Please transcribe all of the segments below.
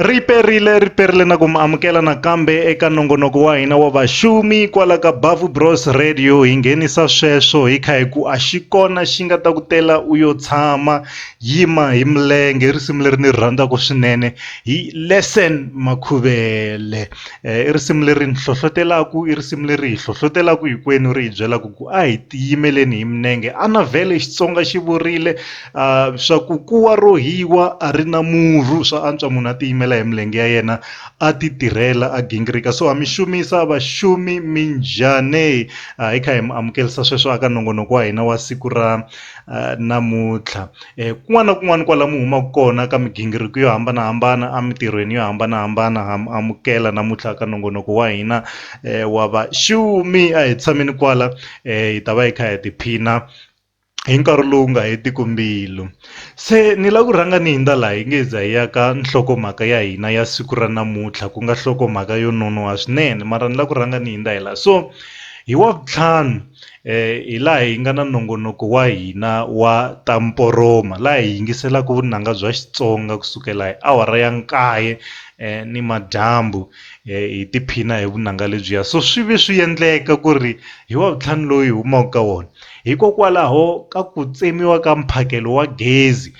Ri perile ri perile na ku mi amukela nakambe eka nongonoko wa hina wa vaxumi kwala ka Bavu Bros Radio hi nghenisa sweswo hi kha hi ku a xi kona xi nga ta ku tela u yo tshama yima hi milenge i risimu leri ni ri rhandzaka swinene hi Lesson Makhuvele i risimu leri ni hlohlotelaku i risimu leri hi hlohlotelaku hinkwenu ri hi byelaka ku a hi tiyimeleni hi minenge a na vhele Xitsonga xi vurile. Uh, swa ku kuwa ro hiwa a ri na murhu swa antswa munhu a tiyimela hi milenge ya yena a ti tirhela a gingirika so ha mi xumisa vaxumi mi njhani uh, hi kha hi mi amukelisa sweswo aka nongonoko wa hina wa siku ra uh, namuntlha eh, kun'wana na kun'wana kwala mi humaka kona ka migingiriko yo hambanahambana emitirhweni yo hambanahambana ha mi amukela namuntlha ka nongonoko wa hina eh, wa vaxumi a hi tshameni kwala eh, hi ta va hi kha hi tiphina hi nkarhi lowu nga hetiki mbilu se ni lava ku rhanga ni hundza laha hi nge hi za hi ya ka nhlokomhaka ya hina ya siku ra namuntlha ku nga nhlokomhaka yo nonoha swinene mara ni lava ku rhanga ni hundza hi laha so hi wa vutlhanu hi laha hi nga na nongonoko wa hina wa ta mporoma laha hi yingiselaka vunanga bya Xitsonga kusukela hi awara ya nkaye ni madyambu hi tiphina hi vunanga lebyiya so swi ve swi endleka ku ri hi wa vutlhanu loyi hi humaka ka wona. Hikokwalaho ka ku tsemiwa ka mphakelo wa gezi,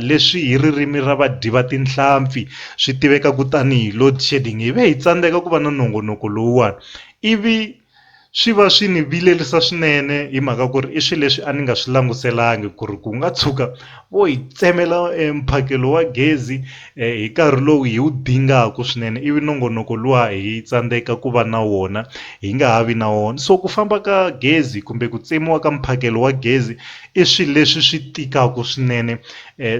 leswi hi ririmi ra vadyi va tinhlampfi swi tivekaku tani hi load shedding, hi ve hi tsandzeka ku va na nongonoko lowuwani ivi swi va swi ni vilerisa swinene hi mhaka ku ri i swilo leswi a ni nga swi languselangi ku ri ku nga tshuka Vo hi tsemela e mphakelo wa gezi e hi nkarhi lowu hi wu dingaka swinene ivi nongonoko luwa hi tsandzeka ku va na wona hi nga ha vi na wona so ku famba ka gezi kumbe ku tsemiwa ka mphakelo wa gezi i swilo leswi swi tikaka swinene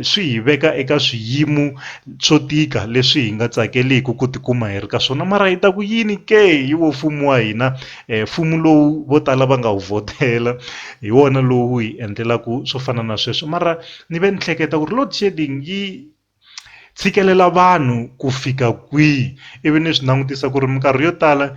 swi hi veka eka swiyimo swo tika leswi hi nga tsakeliki ku tikuma hi ri ka swona mara hi ta ku yini ke hi wo mfumo wa hina. Mfumo lowu vo tala va nga wu vhotela hi wona lowu hi endlelaka swo fana na sweswo mara ni ve ni hleketa ku ri load shedding yi tshikelela vanhu ku fika kwihi ivi ni swi langutisa ku ri minkarhi yo tala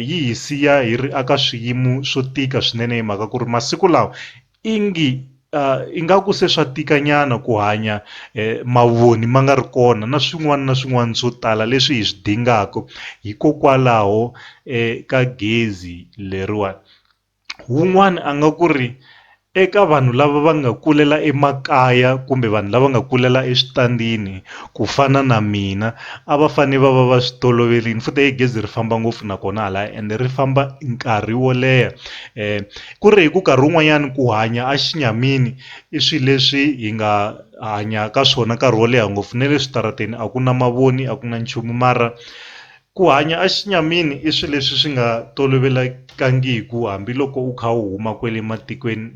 yi hi siya hi ri eka swiyimo swo tika swinene hi mhaka ku ri masiku lawa Ingi, uh, ingaku se swa tikanyana ku hanya eh, mavoni ma nga ri kona na swin'wana na swin'wana swo tala leswi hi swi dingaka hikokwalaho eh, ka gezi leriwani wun'wana a nga ku ri eka vanhu lava va nga kulela emakaya kumbe vanhu lava nga kulela eswitandini ku fana na mina a va fane va va va swi toloverile futhi egezi ri famba ngopfu nakona hala ende ri famba nkarhi wo leha um Ku ri hi ku karhi wun'wanyani ku hanya a xinyamini i swi leswi hi nga hanya ka swona nkarhi wo leha ngopfu ne le switarateni a ku na mavoni a ku na nchumu mara ku hanya a xinyamini i swi leswi swi nga tolovelekangiku hambiloko u kha u huma kwele matikweni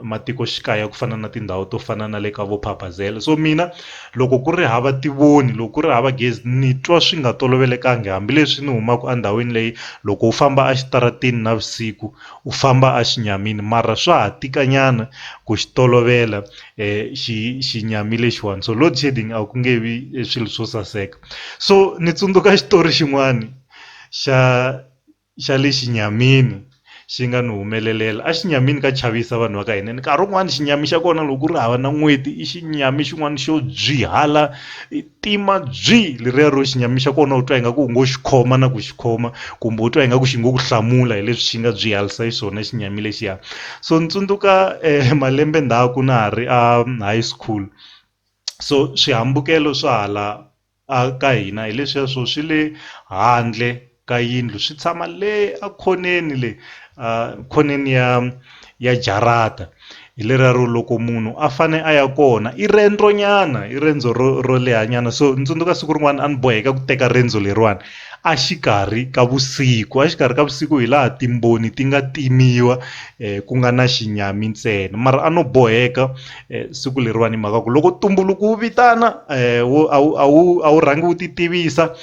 matikoxikaya ku fana na tindhawu to fana na le ka vo Phabazela so mina loko ku ri hava tivoni loko ku ri hava gezi ni twa swi nga tolovelekanga hambileswi ni humaku a ndhawini leyi loko u famba a xitaratini navusiku. U famba a xi nyamini mara swa ha tika nyana ku xi tolovela xi xi nyami lexiwani so load shedding a ku nge vi swilo swo saseka so ni tsundzuka xitori xin'wani xa xa le xinyamini xi nga ni humelelela a xi nyamini ka chavisa vanhu va ka hina nkarhi wun'wani xinyami xa kona loko ku ri hava na n'weti i xinyami xin'wani xo byihala i tima byi leriya ro xi nyamixa kona u twa ingaku u ngo xi khoma na ku xi khoma kumbe u twa ingaku xi ngo ku hlamula hi leswi xi nga byi halisa xiswona xi nyami lexiya so ni tsundzuka eh, malembe ndhaku na ha ri a high school so swihambukelo swa hala a ka hina hi leswiya swo swi le handle ka yindlu swi tshama le ekhoneni le khoneni ya ya jarata hi lerero loko munhu a fane a ya kona i rendzo nyana i rendzo ro ro leha nyana so ni tsundzuka siku rin'wana a ni boheka ku teka rendzo leriwani a xikarhi ka vusiku a xikarhi ka vusiku hi laha timboni ti nga timiwa ku nga na xinyami ntsena mara a no boheka. eh, siku leriwani hi mhaka ku loko tumbuluku wu vitana eh, wu a wu a wu a wu rhangi wu titivisa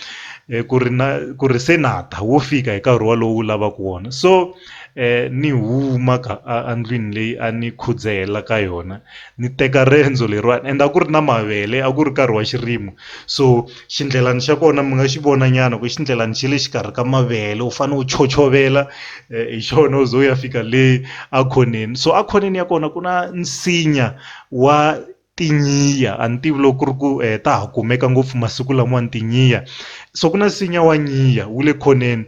eh, ku ri na ku ri se na ta wo fika hi nkarhi walowu wu lavaka wona so eh, ni huma ka a- andlwini leyi a ni khudzela ka yona ni teka riendzo leriwani and a ku ri na mavele a ku ri nkarhi wa xirimo so xindlelani xa kona mi nga xi vona nyana ku xindlelani xi le xikarhi ka mavele u fanele u chochovela eh, hi xona u ze u ya fika le akhoneni so akhoneni ya kona ku na nsinya wa tinyiya a ni tivi loko ku ri ku eh, ta ha kumeka ngopfu masiku lamawani tinyiya so ku na nsinya wa nyiya wu le khoneni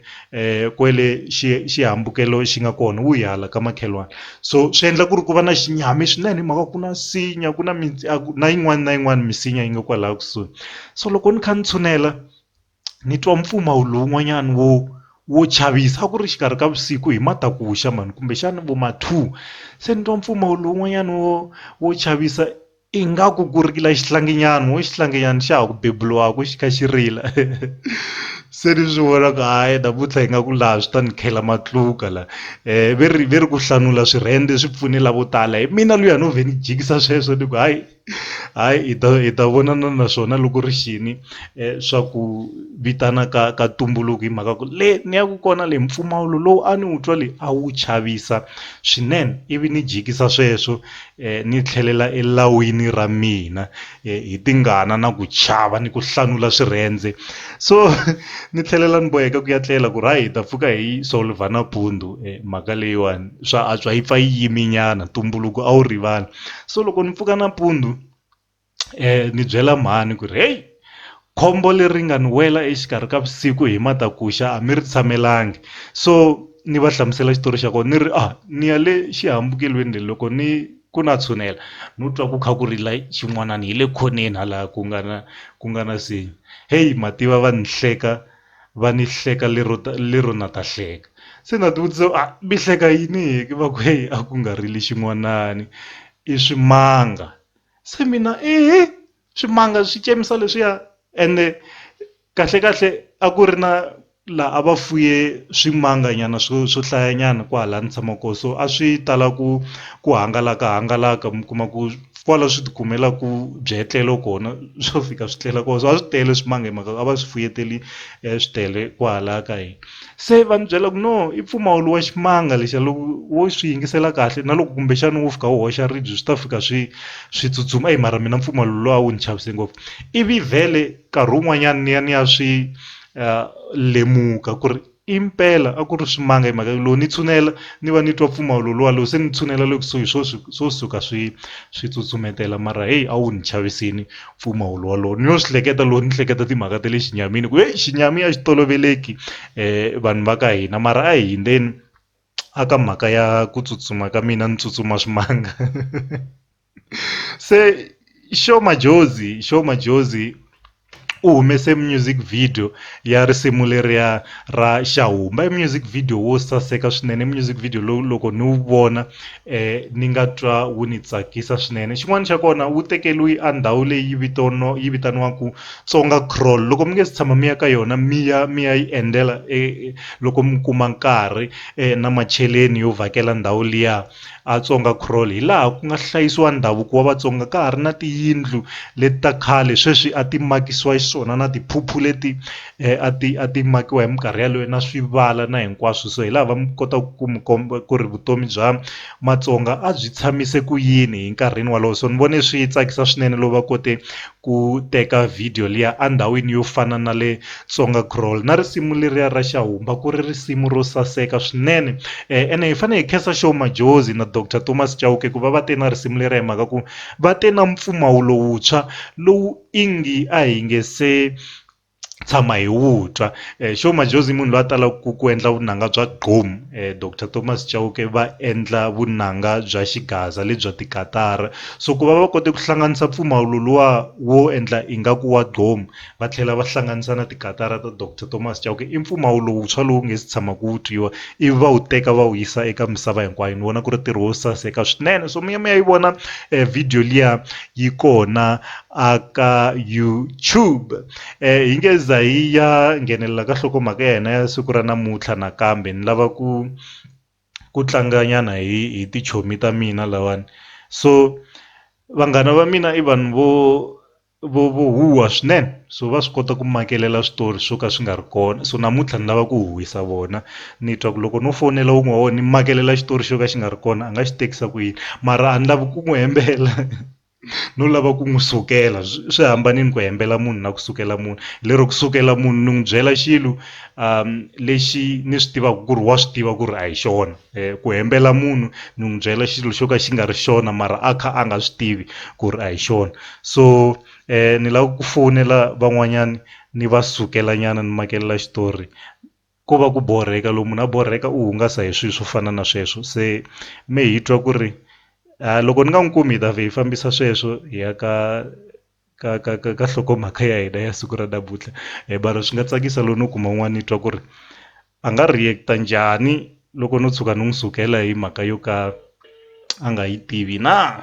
kwele xi xihambukelo xi nga kona wu ya hala ka makhelwani so swi endla ku ri ku va na xinyami swinene hi mhaka ku na nsinya ku na mi a ku na yin'wana na yin'wana misinya yi nga kwalaya kusuhi so loko ni kha ni tshunela ni twa mpfumawulo wun'wanyana wo wo chavisa a ku ri exikarhi ka vusiku hi matakuxa mhani kumbexana vo ma two se ni twa mpfumawulo wun'wanyana wo wo chavisa. Ingaku ku rila xihlanginyana, wo xihlanginyana xa ha ku beburiwaka xi kha xi rila. Se ni swi vona ku hayi namuntlha hi nga ku laha swi ta ni khela matluka la. Um ve ri ve ri ku hlanula swirhende swi pfune lavo tala. Hi mina luya no vhe ni jikisa sweswo ni ku hayi, hayi hi ta hi ta vonana na swona loko ri xini swa ku vitana ka ka ntumbuluko hi mhaka ku le ni yaka kona le mpfumawulo lowu a ni wu twa le a wu chavisa swinene. Ivi ni jikisa sweswo Ni tlhelela elawini ra mina hi tingana na ku chava ni ku hlanula swirhendze so ni tlhelela ni boheka ku ya tlela ku ri hayi hi ta pfuka hi yi solver nampundzu mhaka leyiwani swa antswa yi pfa yi yime nyana ntumbuluko a wu rivali so loko ni pfuka nampundzu. ni byela mhani ku ri heyi khombo leri nga ni wela exikarhi ka vusiku hi matakuxa a mi ri tshamelangi so ni va hlamusela xitori xa kona ni ri a ni ya le xihambukelweni le loko ni ku na tshunela no twa ku kha ku rila xin'wanani hi le khoneni hala ku nga na ku nga na nsinya heyi mativa va ni hleka va ni hleka lero lero na ta hleka se na ti vutisa a mi hleka yini va ku heyi a ku nga rili xin'wanani i swimanga. se mina i swimanga swi tsemisa leswiya ene kahle kahle a ku ri na laha a va fuye swimanga nyana swo swo hlaya nyana kwahala ni tshama kona so a swi tala ku ku hangalaka hangalaka mi kuma ku kwala swi ti kumela ku byetlelo kona swo fika swi tlela kona so a swi tele swimanga hi mhaka a va swi fuye tele swi tele kwahala ka hina. se va ni byela ku no i mpfumawulo wa ximanga lexiya loko wo swi yingisela kahle na loko kumbexana wo fika wu hoxa ribye swi ta fika swi swi tsutsuma eyi mara mina mpfumawulo luwa a wu ni chavisa ngopfu ivi vhele nkarhi wun'wanyani ni ya ni ya swi lemuka ku ri impela a ku ri swimanga hi mhaka loko ni tshunela ni va ni twa mpfumawulo luwa loko se ni tshunela le kusuhi swo swo suka swi swi tsutsumetela mara heyi a wu ni chavisini. mpfumawulo wolowo ni lo swi hleketa loko ni hleketa timhaka ta le xinyamini ku heyi xinyami a xi toloveleki um vanhu va ka hina mara a hi hindzeni a ka mhaka ya ku tsutsuma ka mina ni tsutsuma swimanga se xo majozi xo majozi u humese music video ya risimu leriya ra xahumba i music video wo saseka swinene music video lowu loko ni wu vona ni nga twa wu ni tsakisa swinene xin'wana xa kona wu tekeriwi a ndhawu leyi vito no yi vitaniwaku Tsonga Crawl loko mi nge se tshama mi ya ka yona mi ya mi ya yi endzela e loko mi kuma nkarhi na macheleni yo vhakela ndhawu liya a Tsonga Crawl hi laha ku nga hlayisiwa ndhavuko wa Vatsonga ka ha ri na tiyindlu leti ta khale sweswi a ti makisiwa xiswona na tiphuphu leti a ti a ti makiwa hi minkarhi yaleyo na swivala na hinkwaswo so hi laha va kota ku mi komba ku ri vutomi bya Matsonga a byi tshamise ku yini hi nkarhini wolowo so ni vone swi tsakisa swinene loko va kote ku teka video liya a ndhawini yo fana na le Tsonga Crawl na risimu leriya ra Xahumba ku ri risimu ro saseka swinene ene hi fanele hi khensa Sho Madjozi na Doctor Thomas Chauke ku va va te na risimu leriya hi mhaka ku va te na mpfumawulo wuntshwa lowu ingi a hi nge se tshama hi wu twa eh, xo majozi munhu loyi a talaka ku ku endla vunanga bya gqom eh, dr thomas chauke va endla vunanga bya xigaza lebya tikatara so ku va va kote ku hlanganisa mpfumawulo luwa wo endla ingaku wa gqom va tlhela va hlanganisa na tikatara ta dr thomas chauke i mpfumawulo wuntshwa lowu nge si tshama ku wu twiwa ivi va wu teka va wu yisa eka misava hinkwayo ni vona ku ri ntirho wo saseka swinene so mi ya mi ya yi vona eh, video liya yi kona a ka YouTube hi nge za hi ya nghenelela ka nhlokomhaka ya hina ya siku ra namuntlha nakambe ni lava ku ku tlanga nyana hi hi tichomi ta mina lawani so vanghana va mina i vanhu vo vo vo huha swinene. so va swi kota ku makelela switori swo ka swi nga ri kona so namuntlha ni lava ku huhisa vona ni twa ku loko no fonela wun'we wa wona ni makelela xitori xo ka xi nga ri kona a nga xi tekisa ku yini mara a ni lavi ku n'wi hembela no lava ku n'wi sukela swi hambanile ku hembela munhu na ku sukela munhu lero ku sukela munhu ni n'wi byela xilo um lexi ni swi tivaka ku ri wa swi tiva ku ri a hi xona eh, ku hembela munhu ni n'wi byela xilo xo ka xi nga ri xona mara a kha a nga swi tivi ku ri a hi xona so ni lava ku fowunela van'wanyana ni va sukela nyana ni makelela xitori ko va ku borheka loko munhu a borheka u hungasa hi swilo swo fana na sweswo se me hi twa ku ri a loko ni nga n'wi kumi hi ta vhe hi fambisa sweswo hi ya ka ka ka ka ka nhlokomhaka ya hina ya siku ra namuntlha mara swi nga tsakisa loko no kuma un'wana ni twa ku ri a nga react-a njhani loko no tshuka ni n'wi sukela hi mhaka yo ka a nga yi tivi na.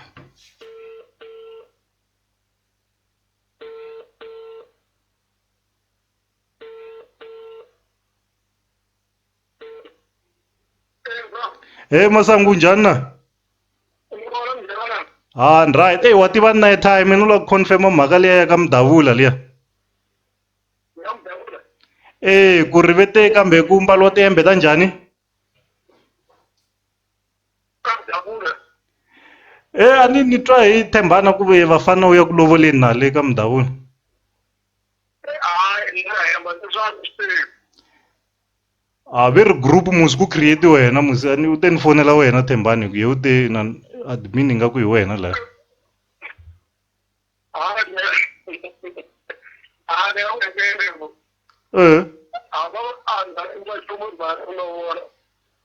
hey masangu njhani na ha ni right ey wa tiva night time ni la ku confirma mhaka liya ya ka mudavula liya ee ku ri vete kambe ku mbaliwa tiyembe ta njhani E a ni ni twa hi tshembana ku ve vafana u ya ku lovoleni na le ka mudavula a ve ri group musi ku create wena musi a ni u te ni fonela wena tshembani hi ku ye u te na admin ingaku hi wena laya eh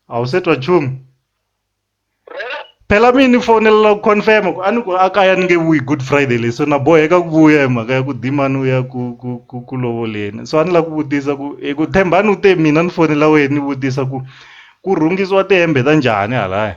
awu se twa nchumu phela mina ni fonela ku confirm ku a ni ku a kaya ni nge vuyi good friday leyi so na boheka ku vuya hi mhaka ya ku dimani u ya ku ku ku ku lovoleni so a ni lava ku vutisa ku hi ku thembani u te mina ni fonela wena ni vutisa ku ku rhungisiwa tihembe ta njhani halaya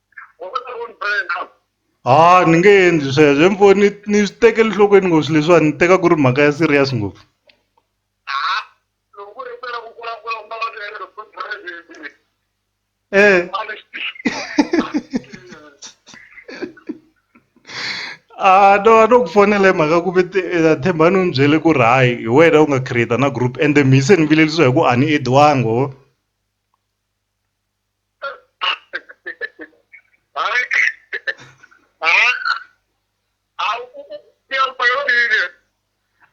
ha ni nge endli sweswo mi vo ni ni swi tekela enhlokweni ngopfu swilo leswiwani ni teka ku ri mhaka ya serious ngopfu e a no a no ku fonela hi mhaka ku ve eh, themba ni n'wi byele ku ri hayi hi wena u nga create na group ende mi se ni vilelisiwa hi ku a ni ediwangi ho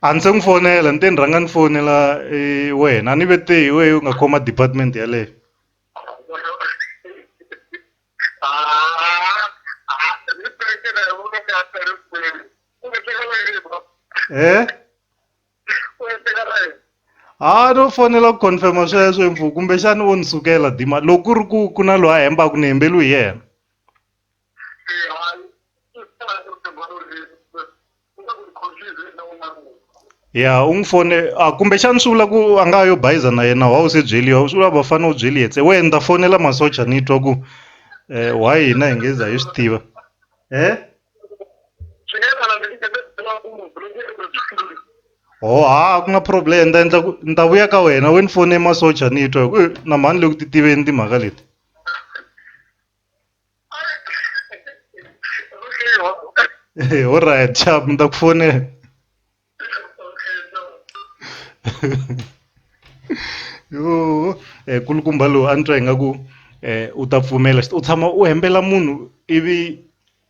a ndzi se n'wi fonela ni te ni rhanga ni fonela eh, wena a ni ve te hi wehe u nga khoma department yaleyo e ha no fanela ku confirma sweswo impfu kumbexani wo ni sukela dima loko ku ri ku ku na loyi a hembaka ni hembeliwi hi yena ya u n'wi fone a kumbexani swi vula ku a nga yo bayiza na yena wa u se byeliwa swi vula vafana u byeli yetse we ni ta fonela masocha ni twa ku um why hina hi nge za hi swi tiva እ swi nga endla ndzi endla ku munhu loyi ndzi endla byi hlula ho ha ku nga problem ni ta endla ku ni ta vuya ka wena we ni fone masocha ni twa hi ku "Eh, na mhani le ku ti tiveni timhaka leti okay ho right chap ni ta ku fonela yoh kulukumba lowu a ni twa ingaku u ta pfumela u tshama u hembela munhu ivi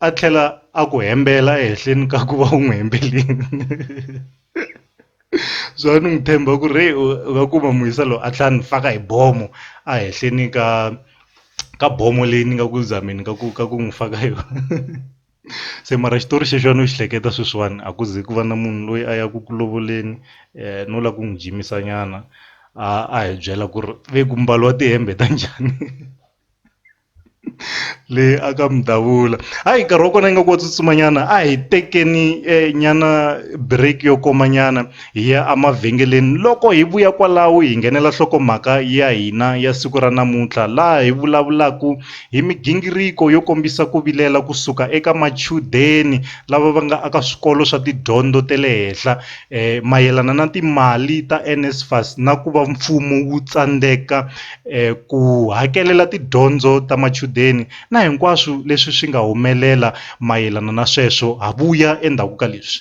a tlhela a ku hembela ehenhleni ka ku va u n'wi hembeleni so a ni n'wi tshemba ku ri u nga kuma musa loyi a tlhela a ni faka hi bomo a henhleni ka ka bomo leyi ni nga ku zameni ka ku ka ku n'wi faka yona. se mara xitori xexo a no xi hleketa sweswiwani a ku ze ku va na munhu loyi a ya ku ku lovoleni um no lava ku n'wi jimisa nyana a a hi byela ku ri ve ku mbaliwa tihembe ta njhani le a ka mudavula hayi nkarhi wa kona ingaku wa tsutsuma nyana a hi tekeni nyana break yo koma nyana. Hi ya emavhengeleni. Loko hi vuya kwalaho hi nghenela nhlokomhaka ya hina ya siku ra namuntlha laha hi vulavulaka hi migingiriko yo kombisa ku vilela ku suka eka machudeni lava va nga aka swikolo swa tidyondzo ta le henhla um mayelana na timali ta NSFAS na ku va mfumo wu tsandzeka um ku hakelela tidyondzo ta machudeni na hinkwaswo leswi swi nga humelela mayelana na sweswo ha vuya endzhaku ka leswi.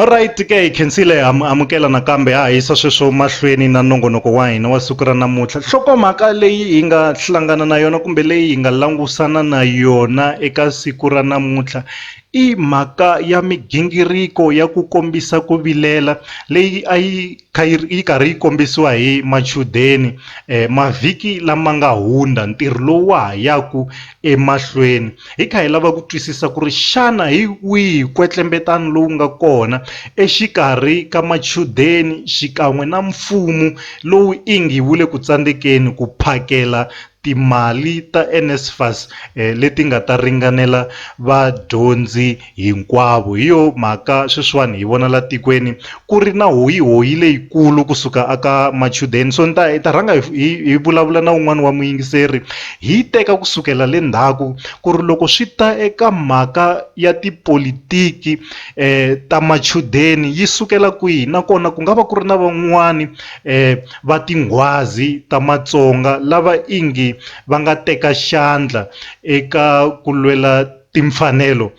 Alright ke hi khensile amukela nakambe ha yisa sweswo mahlweni na nongonoko wa hina wa siku ra namuntlha nhlokomhaka leyi hi nga hlangana na yona kumbe leyi hi nga langusana na yona eka siku ra namuntlha i mhaka ya migingiriko ya ku kombisa ku vilela leyi a yi kha yi yi karhi yi kombisiwa hi machudeni mavhiki lama nga hundza ntirho lowu wa ha yaku emahlweni Hi kha hi lava ku twisisa ku ri xana hi wihi kwetlembetano lowu nga kona exikarhi ka machudeni xikan'we na mfumo lowu ingi wu le ku tsandzekeni ku phakela timali ta NSFAS leti nga ta ringanela vadyondzi Hinkwavo. Hi yo mhaka sweswiwani hi vona la tikweni ku ri na hoyihoyi leyikulu ku suka a ka machudeni. So ni ta hi ta rhanga hi hi hi vulavula na wun'wani wa muyingiseri hi yi teka ku sukela le ndzhaku ku ri loko swi ta eka mhaka ya tipolitiki ta machudeni yi sukela kwihi nakona ku nga va ku ri na van'wani va tinghwazi ta Matsonga lava ingi va nga teka xandla eka ku lwela timfanelo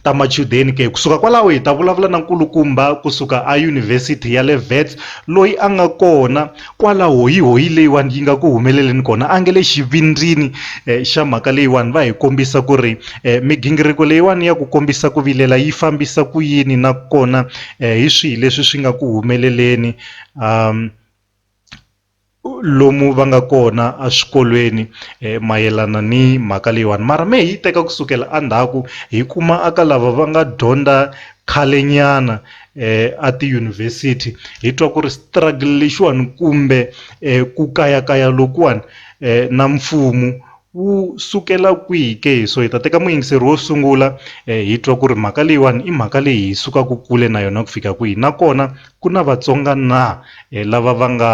ta machudeni ke kusuka kwalaho hi ta vulavula na nkulukumba kusuka a yunivhesiti ya le Wits loyi a nga kona kwala hoyi hoyi leyiwani yi nga ku humeleleni kona a nge le xivindzini eh, xa mhaka leyiwani va hi kombisa ku ri eh, migingiriko leyiwani ya ku kombisa ku vilela yi fambisa ku yini nakona eh, hi swihi leswi swi nga ku humeleleni um, lomu va nga kona a swikolweni mayelana ni mhaka leyiwani mara me hi yi teka kusukela a ndzhaku hi kuma a ka lava va nga dyondza khale nyana a tiyunivhesiti hi twa ku ri struggle lexiwani kumbe ku kayakaya lokuwani na mfumo wu sukela kwihi ke hi so hi ta teka muyingiseri wo sungula hi twa ku ri mhaka leyiwani i mhaka leyi hi sukaka kule na yona ku fika kwihi nakona Ku na Vatsonga na lava va nga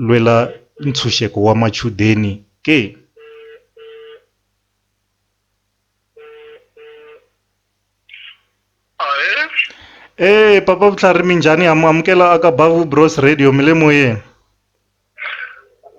lwela ntshunxeko wa machudeni ke? Eeh Papa Vutlhari minjhani? Ha mi amukela aka Bavu Bros Radio, mi le moyeni.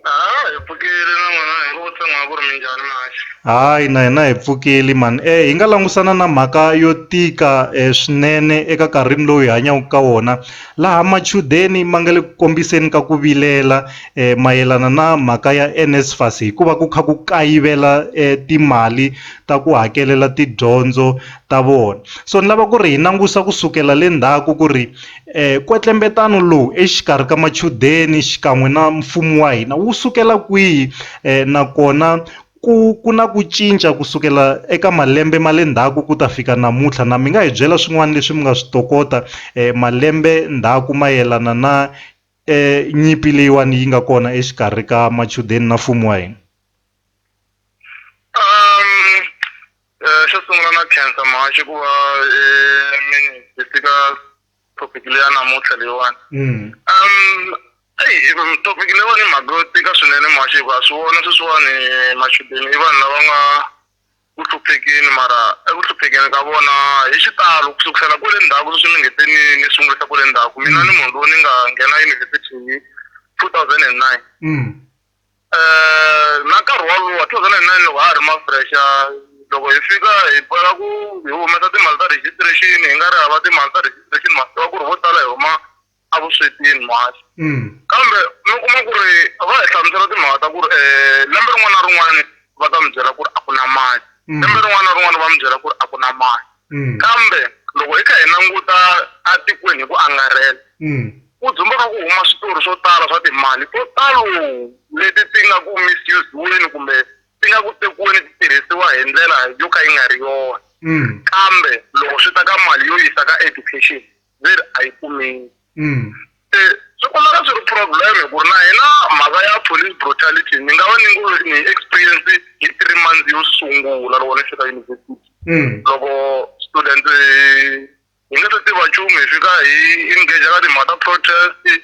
Ah, hi pfukile na n'wina hi ngo vutsoniwa ku ri minjhani mhani. Hayi na hina hi pfukile man eh hi nga langusana na mhaka yo tika eh, swinene eka karhini lowu hi hanyaka ka wona laha machudeni ma nga le ku kombiseni ka ku vilela eh, mayelana na mhaka ya NSFAS hikuva ku kha ku kayivela eh, timali ta ku hakelela tidyondzo ta vona so ni lava ku ri hi langusa ku sukela le ndzhaku ku ri Nkwetlembetano lowu exikarhi ka machudeni xikan'we na mfumo wa hina wu sukela kwihi nakona ku ku na ku cinca ku sukela eka malembe ma le ndzhaku ku ta fika namuntlha na mi nga hi byela swin'wana leswi mi nga swi tokota malembe ndzhaku mayelana na nyimpi leyiwani yi nga kona exikarhi ka machudeni na mfumo wa hina. Eh, xo sungula na khensa mhaxi ku va eh, mi hi fika topic leya namuntlha leyiwani Mm. um eyi topic leyiwani i mhaka yo tika swinene mhaxi hikuva swi vona sweswiwani machudeni i vanhu lava nga ku hluphekeni mara eku hluphekeni ka vona hi xitalo ku sukusela kwale ndzhaku sweswi mi ngete ni ni sungulisa kwale ndzhaku mina ni munhu lowu ni nga nghena yunivhesiti hi two thousand and nine Mm. Eh, na nkarhi wolowo 2009 loko ha ha ri mafrexa loko hi fika hi boheka ku hi humesa timali ta registration hi nga ri hava timali ta registration ma swi tiva ku ri vo tala hi huma evuswetini mhasi Mm. kambe mi kuma ku ri va hi hlamusela timhaka ta ku ri um lembe rin'wana na rin'wana va ta mi byela ku ri a ku na mali Mm. lembe rin'wana na rin'wana va mi byela ku ri a ku na mali Mm. kambe loko hi kha hi languta etikweni hi ku angarhela mm. ku dzumbeka ku huma switori swo tala swa timali to talo leti ti nga ku misuse-weni kumbe ti nga ku tekiweni ti tirhisiwa hi ndlela yo ka yi nga ri yona mm. kambe loko swi ta ka mali yo yisa ka education ve ri a yi kumeki mm. se swi kumeka swi ri problem ku ri na hina mhaka ya police brutality ni nga va ni ngo ni experience hi three months yo sungula loko ni fika university mm. loko student hi nga se tiva nchumu hi fika hi engage ka timhaka ta protest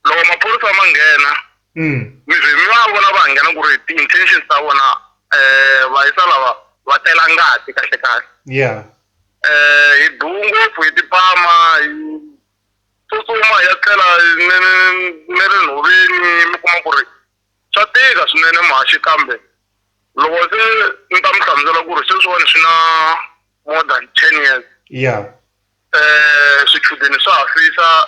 loko maphorisa ma nghena mm. mi va vona va nghena ku ri ti-intentions ta vona um vayisa lava va tela ngati kahle kahle ya um hi duu ngopfu hi tipama hi tsutsuma hi ya tlela ni ri nhoveni mi kuma ku ri swa tika swinene maxi kambe loko se ni ta mi hlamusela ku ri sweswiwani swi na more than ten years ya um swichudeni swa hafisa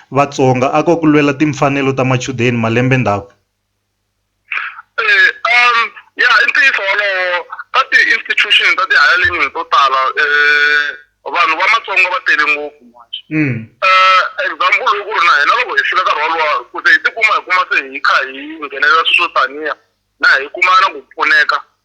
Vatsonga a ko ku lwela timfanelo ta machudeni malembe ndzhaku? Ya i ntiyiso wolowo ka ti institution ta ti higher learning to tala vanhu va matsonga va tele ngopfu example i ku ri na hina loko hi fika nkarhi wolowo ku ze hi tikuma hi kuma se hi kha hi nghenelela swilo swo taniya na hi kuma na ku pfuneka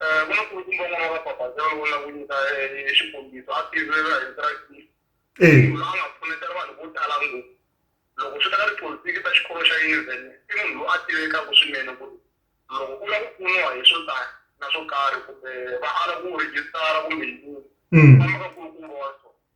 Eh, ku na nkulukumba un'wana wa vabaphazi loyi ni la ku nyika eh, eh, xikombiso a tirhela hi vito ra Yesu e munhu loyi a nga pfunetela vanhu vo tala ngopfu loko swi ta ka tipolitiki ta xikolo xa yunivhesiti i munhu loyi a tivekaka swinene ku ri loko u lava ku pfuniwa hi swo tani na swo karhi kumbe va ala ku rejistara kumbe yini Mm. famba ka nkulukumba wa so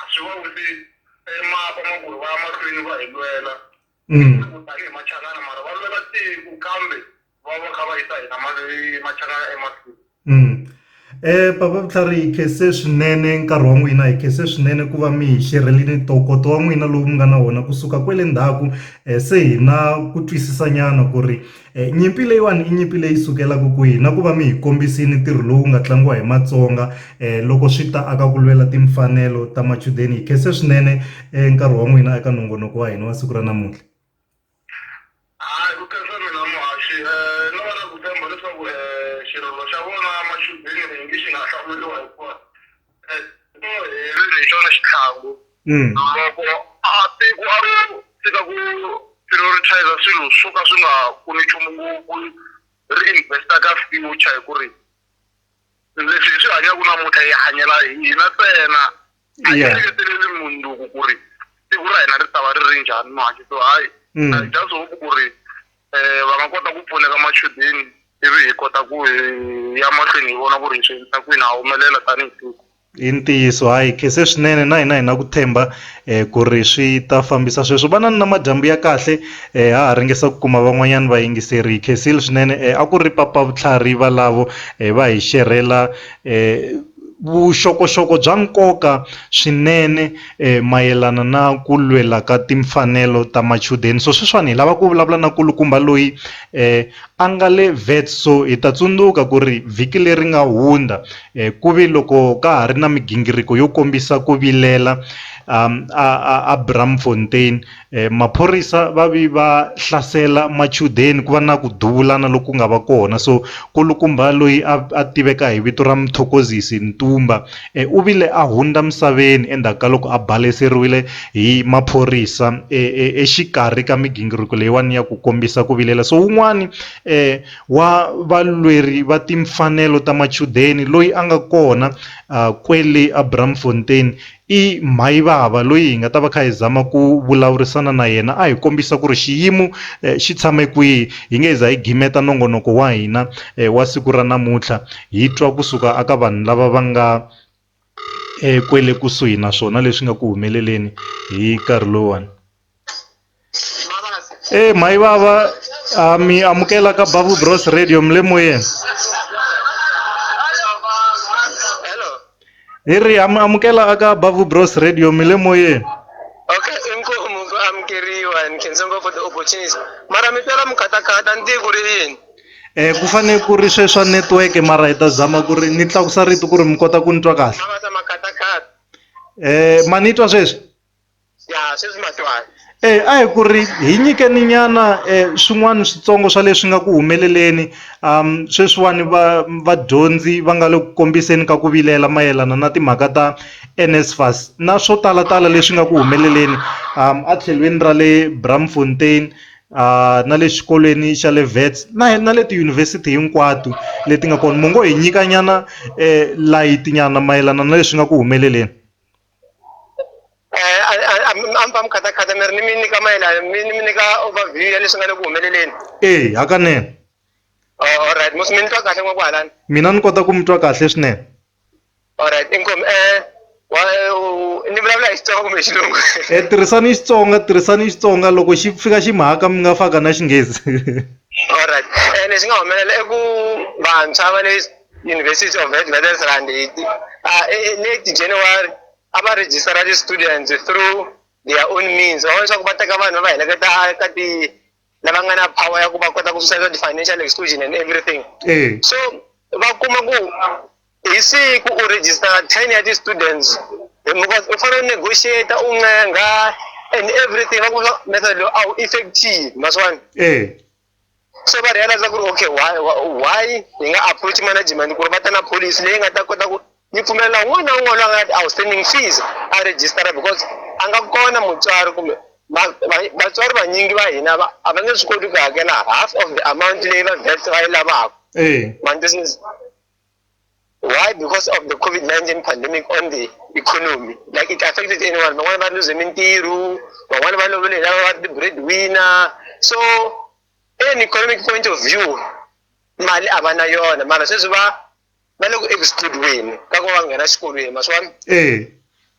A swi va wisi emakwa ma ku ri va ya mahlweni va hi lwela tiko tanihi Machangana mara va lwela tiko kambe va va kha va yisa hina Machangana emahlweni. Papa Vutlhari hi khense swinene nkarhi wa n'wina hi khense swinene ku va mi hi xerhelile ntokoto wa n'wina lowu mi nga na wona kusuka kwele ndzhaku se hi na ku twisisa nyana ku ri Nyimpi leyiwani i nyimpi leyi sukelaka kwihi na ku va mi hi kombisile ntirho lowu nga tlangiwa hi Matsonga loko swi ta aka ku lwela timfanelo ta machudeni hi khense swinene nkarhi wa n'wina eka nongonoko wa hina wa siku ra namuntlha. Hayi ku khensa mina muhaxi no va na ku tshemba leswaku xirilo xa vona machudeni xi nga hlamuriwa hikuva hi xona xitlhangu loko a tiko a ro tshika ku prioritize swilo swo ka swi nga pfuni nchumu ngopfu ri investa ka future hi ku ri leswi hi swi hanyaka namuntlha hi hanyela hina ntsena a hi engeteleli mundzuku ku ri siku ra hina ri ta va ri ri njhani manje so hayi i just hope ku ri um va nga kota ku pfuneka machudeni ivi hi kota ku hi ya mahlweni hi vona ku ri hi swi endlisa kwini ha humelela tanihi tiko i ntiyiso hayi khese swinene na hina hi na ku tshemba um ku ri swi ta fambisa sweswo va na ni na madyambu ya kahle um ha ha ringesa ku kuma van'wanyana vayingiseri hi khensile swinene um a ku ri papa vutlhari valavo um va hi xerhela um Vuxokoxoko bya nkoka swinene mayelana na ku lwela ka timfanelo ta machudeni. So sweswiwani hi lava ku vulavula na nkulukumba loyi a nga le Wits. So hi ta tsundzuka ku ri vhiki leri nga hundza ku ve loko ka ha ri na migingiriko yo kombisa ku vilela a Braamfontein. maphorisa va vi va hlasela machudeni ku va na ku duvulana loku nga va kona so kulukumba loyi a a tiveka hi vito ra Mthokozisi Ntumba u vile a hundza misaveni endzhaku ka loko a baleseriwile hi maphorisa exikarhi ka migingiriko leyiwani ya ku kombisa ku vilela so wun'wani wa valweri va timfanelo ta machudeni loyi a nga kona kwele Abrahamfontein I Mhayivava loyi hi nga ta va kha hi zama ku vulavurisana na yena a hi kombisa ku ri xiyimo xi tshame kwihi hi nge hi za hi gimeta nongonoko wa hina wa siku ra namuntlha hi twa kusuka aka vanhu lava va nga kwele kusuhi naswona leswi nga ku humeleleni hi nkarhi lowuwani. Eh mai baba uh, mi amukela ka Babu Bros Radio mle moyeng. Hello. Hi ri am- amukela aka Babu Bros Radio mle moyeng. Okay, inkomu ku amukeriwa and khensa ngopfu the opportunity. Mara mi twela mukatakata ni tivi ku ri yini. Eh ku fane ku ri sweswa network mara hi ta zama ku ri ni tlakusa rito ku ri mi kota ku ni twa kahle. Mavasa makatakata. Eh ma ni twa sweswi? ya sweswi matwana Eh a hi ku ri hi nyikeni nyana eh swin'wana switsongo swa leswi nga ku humeleleni um sweswiwani va vadyondzi va nga le ku kombiseni ka ku vilela mayelana na timhaka ta NSFAS na swo talatala leswi nga ku humeleleni um a tlhelweni ra le Braamfontein uh na le xikolweni xa le Wits na na le tiyunivhesiti hinkwato leti nga kona mo ngo hi nyika nyana eh light nyana mayelana na leswi nga ku humeleleni. a mi khatakhatha mi ri ni mi nyika mayelana mi ni mi nyika overview ya leswi nga le ku humeleleni ee hakanene alright musi mi ni twa kahle n'wa kwahalani mina ni kota ku mi twa kahle swinene alright inkomi um ni vulavula hi xitsonga kumbe xilungu e tirhisani xitsonga tirhisani xitsonga loko xi fika xi mhaka mi nga faka na xinghezi alright um lexi nga humelela i ku vantshwa va le University of Witwatersrand hi ti- uh, eh, late January a va register ti students through their own means va vona leswaku va teka vanhu va heleketa ka ti lava nga na power ya ku va kota ku susa ti financial exclusion and everything Eh. so va kuma ku hi siku u register ten ya ti students Eh, because u fanele u negotiate u ncenga and everything va ku method lowu a wu effective ma swi vona Eh. so va realize ku ri okay why why hi nga approach management ku ri va ta na policy leyi nga ta kota ku yi pfumelela un'wana na un'wana loyi a nga na outstanding fees a register because a nga kona mutswari kumbe vatswari vanyingi va hina a va nge swi koti ku hakela half of the amount leyi va vest va yi lavaka ma twisisa Why? Because of the COVID-19 pandemic on the economy. Like it affected anyone. But one lose Mintiru, but one about the breadwinner. So, in economic point of view, mali abana yona mara sweswi va va le ku excludiweni ka ku va nghena xikolweni maswona eh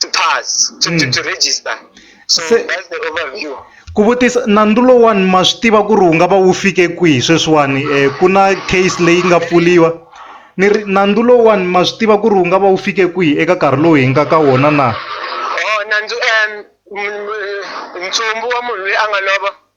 to pass to, to, to register so Se- that's the overview ku vutisa nandzu lowani ma swi tiva ku ri wu nga va wu fike kwihi sweswiwani um ku na case leyi nga pfuriwa ni ri nandzu lowani ma swi tiva ku ri wu nga va wu fike kwihi eka nkarhi lowu hi nga ka wona na oh nandzu um m- m- ntsumbu wa munhu loyi a nga lova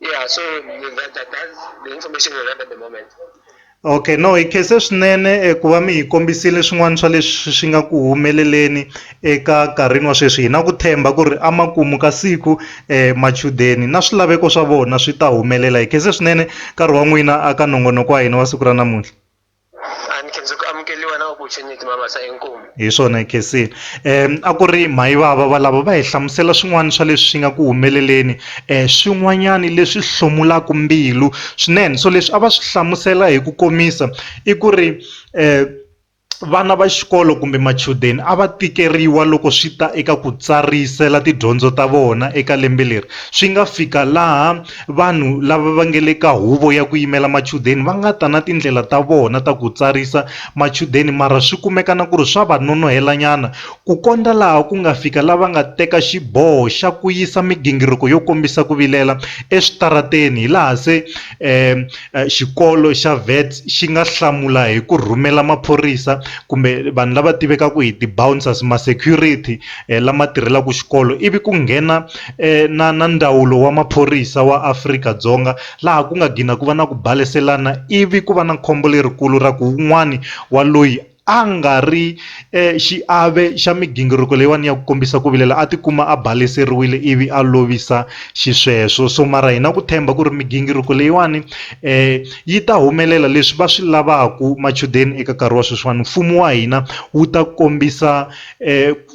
yeah so that, that, that's the information we have at the moment okay no hi khese swinene eh, ku va mi hi kombisile swin'wana swa leswi swi nga ku humeleleni eka nkarhini wa sweswi hi na ku themba ku ri amakumu ka siku um machudeni na swilaveko swa vona swi ta humelela hi khese swinene nkarhi wa n'wina aka nongonoko wa hina wa siku ra namuntlha Hi swona Khensile a ku ri Mayivava valavo va hi hlamusela swin'wana swa leswi nga ku humeleleni swin'wanyana leswi hlomulaka mbilu swinene so leswi a va swi hlamusela hi ku komisa i ku ri vana va xikolo kumbe machudeni a va tikeriwa loko swi ta eka ku tsarisela tidyondzo ta vona eka lembe leri swi nga fika laha. Vanhu lava va nge le ka Huvo ya ku Yimela Machudeni va nga ta na tindlela ta vona ta ku tsarisa machudeni mara swi kumeka na ku ri swa va nonohelanyana ku kondza laha ku nga fika lava nga teka xiboho xa ku yisa migingiriko yo kombisa ku vilela eswitarateni hilaha se xikolo xa Wits xi nga hlamula hi ku rhumela maphorisa kumbe vanhu lava tivekaka hi ti-bouncers, ma-security lama tirhelaka xikolo ivi ku nghena na na ndawulo wa maphorisa wa Afrika-Dzonga laha ku nga gina ku va na ku baleselana ivi ku va na khombo lerikulu ra ku wun'wani wa loyi a nga ri xiave xa migingiriko leyiwani ya ku kombisa ku vilela a tikuma a baleseriwile ivi a lovisa xisweswo so mara hina ku tshemba ku ri migingiriko leyiwani yi ta humelela leswi va swi lavaku machudeni eka nkarhi wa sweswiwani mfumo wa hina wu ta kombisa .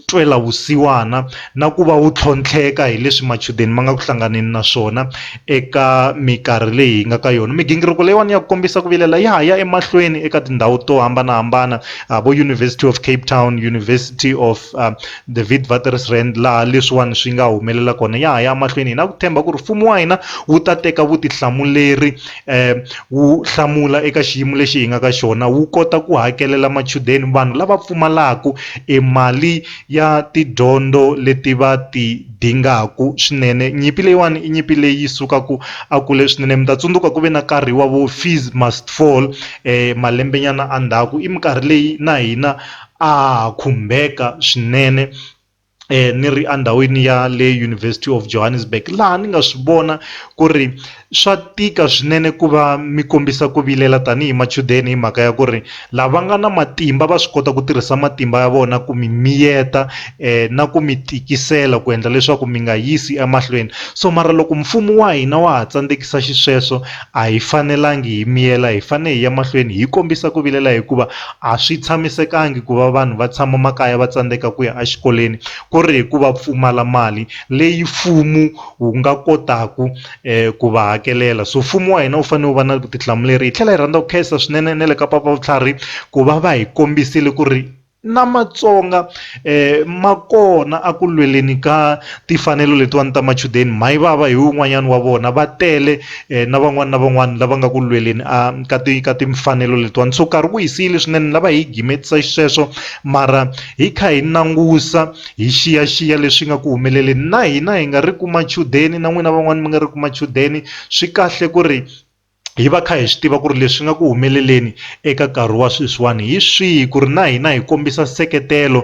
ntwelavusiwana na ku va wu tlhontlheka hi leswi machudeni ma nga ku hlanganeni na swona eka mikarhi leyi hi nga ka yona. Migingiriko leyiwani ya ku kombisa ku vilela ya ha ya emahlweni eka tindhawu to hambanahambana, uh, vo University of Cape Town, University of uh, the Witwatersrand laha leswiwani swi nga humelela kona ya ha ya emahlweni. Hi na ku tshemba ku ri mfumo wa hina wu ta teka vutihlamuleri wu hlamula eka xiyimo lexi hi nga ka xona wu kota ku hakelela machudeni vanhu lava pfumalaka e mali ya tidyondzo leti va ti dingaku swinene nyimpi leyiwani i nyimpi leyi sukaku a kule swinene mi ta tsundzuka ku ve na nkarhi wa vo fees must fall malembe nyana a ndzhaku i minkarhi leyi na hina a ha khumbeka swinene eh, ni ri endhawini ya le University of Johannesburg laha ni nga swi vona ku ri swa tika swinene ku va mi kombisa ku vilela tanihi machudeni hi mhaka ya ku ri lava nga na matimba va swi kota ku tirhisa matimba ya vona ku mi miyeta eh, na ku mi tikisela ku endla leswaku mi nga yisi emahlweni so mara loko mfumo wa hina wa ha tsandzekisa xisweswo a hi fanelangi hi miyela hi fanele hi ya mahlweni hi kombisa ku vilela hikuva A swi tshamisekangi ku va vanhu va tshama makaya va tsandzeka ku ya exikolweni ku ri hi ku va pfumala mali leyi mfumo wu nga kotaka ku va hakelela so mfumo wa hina wu fanele wu va na vutihlamuleri hi tlhela hi rhandza ku khensa swinene na le ka papavutlharhi ku va va hi kombisile ku ri na Matsonga. ma kona a ku lweleni ka timfanelo letiwani ta machudeni mhayivava hi wun'wanyani wa vona va tele na van'wani na van'wani lava nga ku lweleni a ka ti ka timfanelo letiwani so nkarhi wu hi siyile swinene ni lava hi yi gimetisa xisweswo mara hi kha hi langusa hi xiyaxiya leswi nga ku humeleleni na hina hi nga ri ku machudeni na n'wina van'wani mi nga ri ku machudeni swi kahle ku ri hi va kha hi swi tiva ku ri leswi nga ku humeleleni eka nkarhi wa sweswiwani hi swihi ku ri na hina hi kombisa nseketelo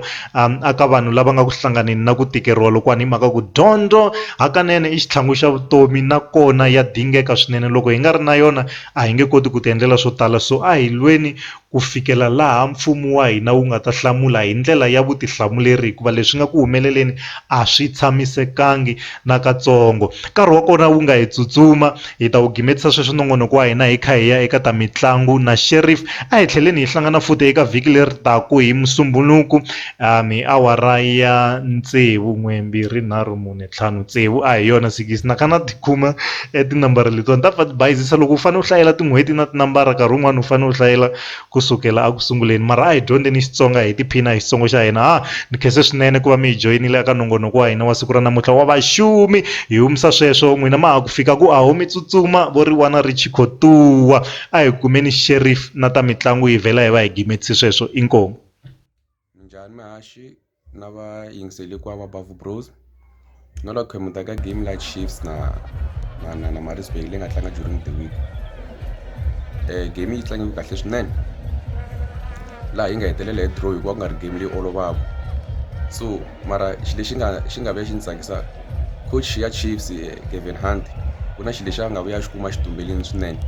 a ka vanhu lava nga ku hlanganeni na ku tikeriwa lokuwani hi mhaka ku dyondzo hakanene i xitlhangu xa vutomi nakona ya dingeka swinene loko hi nga ri na yona a hi nge koti ku ti endlela swo tala so a hi lweni ku fikela laha Mfumo wa hina wu nga ta hlamula hi ndlela ya vutihlamuleri hikuva leswi nga ku humeleleni a swi tshamisekangi nakatsongo. Nkarhi wa kona wu nga hi tsutsuma. Hi ta wu gimetisa sweswi nongonoko wa hina hi kha hi ya eka ta mitlangu na Sheriff. A hi tlheleni hi hlangana futhi eka vhiki leri taka hi Musumbhunuku, um hi awara ya tsevu n'we mbirhi nharhu mune. ntlhanu tsevu a hi yona sikisi na kha na ti khoma e tinambara letiwani ta pfa ti bayizisa loko u fane u hlayela tin'hweti na tinambara nkarhi wun'wani u fane u hlayela kusukela a ku sunguleni mara a hi dyondzeni Xitsonga hi tiphina hi Xitsongo xa hina ha ni khense swinene ku va mi hi joyinile eka nongonoko wa hina wa siku ra namuntlha wa vaxumi hi humisa sweswo n'wina ma ha ku fika ku aho mi tsutsuma vo ri wana ri chikhotuwa a hi kumeni sheriff na ta mitlangu hi vhela hi va hi gimetise sweswo inkomu. minjhani mihaxi na va yingiseli ku va bavu bros na la khemu ta ka game la chiefs na na na na marisburg leyi nga tlanga during the week um game yi tlangiwe kahle swinene laha yi nga hetelela hi draw hikuva ku nga ri game leyi olovaka so mara xi lexi nga xi nga vuya xi ni tsakisa coach ya chiefs eh, gavin hunt ku na xi lexi a nga vuya xi kuma xitumbeleni swinene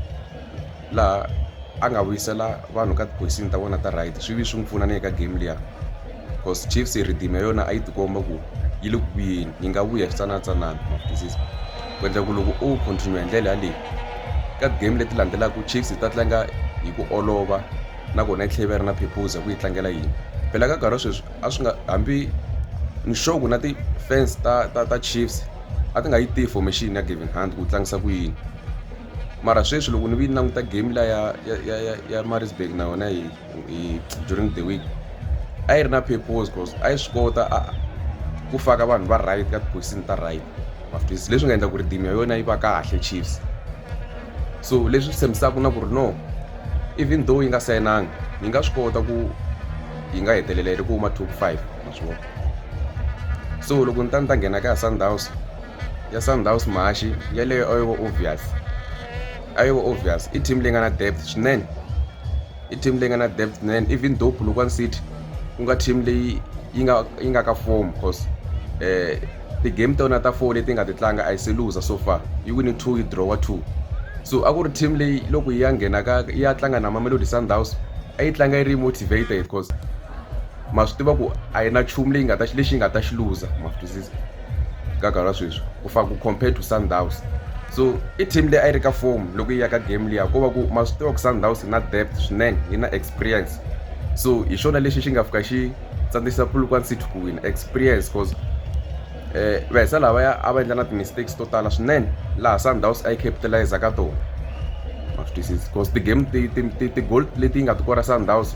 laha a nga vuyisela vanhu ka tiphosini ta vona ta right swi vi swi n'wi pfuna na le ka game liya because chiefs rhidimi ya yona a yi tikomba ku yi le ku vuyeni yi nga vuya switsanatsanana ku endla ku loko o continue hi ndlela yaleyi ka game leti landzelaka chiefs yi ta tlanga hi ku olova nakona yi tlhela yi va ri na phephuza ku yi tlangela yini phela ka nkarhi wa sweswi a swi nga hambi ni sure ku na ti-fans ta ta ta chiefs a ti nga yi tivi formation ya gavin hunt ku tlangisa ku yini. mara sweswi loko ni vi languta game la ya ya ya ya ya Maritzburg na yona hi hi during the week a yi ri na purpose cause a yi swi kota a ku faka vanhu va right ka tiphosisini ta right mafitisi leswi nga endla ku ri team ya yona yi va kahle Chiefs so leswi swi tshembisaka na ku ri no even though yi nga sayinanga yi nga swi kota ku yi nga hetelela yi ri ku huma top five ma swi vona so loko ni ta ni ta nghena ka ya Sundowns ya sundowns mhaxi yeleyo a yo va obvious a yo va obvious i team leyi nga na depth swinene i team leyi nga na depth swinene even though polokwane city ku nga team leyi yi nga yi nga ka form cause um ti-game ta yona ta four leti nga ti tlanga a yi se luza so far yi wini two yi drawa two so a ku ri team leyi loko yi ya nghena ka yi ya tlanga na mamelodi sundowns a yi tlanga yi ri motivated cause ma swi tiva ku a yi na nchumu leyi nga ta lexi yi nga ta xi luza ma swi twisisa ka nkarhi wa sweswi ku fana ku compared to sundowns so i team leyi a yi ri ka form loko yi ya ka game liya ko va ku ma swi tiva ku sundowns yi na depth swinene yi na experience so hi xona lexi xi nga fika xi tsandzisa polokwane city ku wina experience cause um vahisa lavaya a va endla na ti-mistakes to tala swinene laha sundowns a yi capitalize ka tona ma swi twisisi cause ti-game ti-gold leti yi nga ti kora sundowns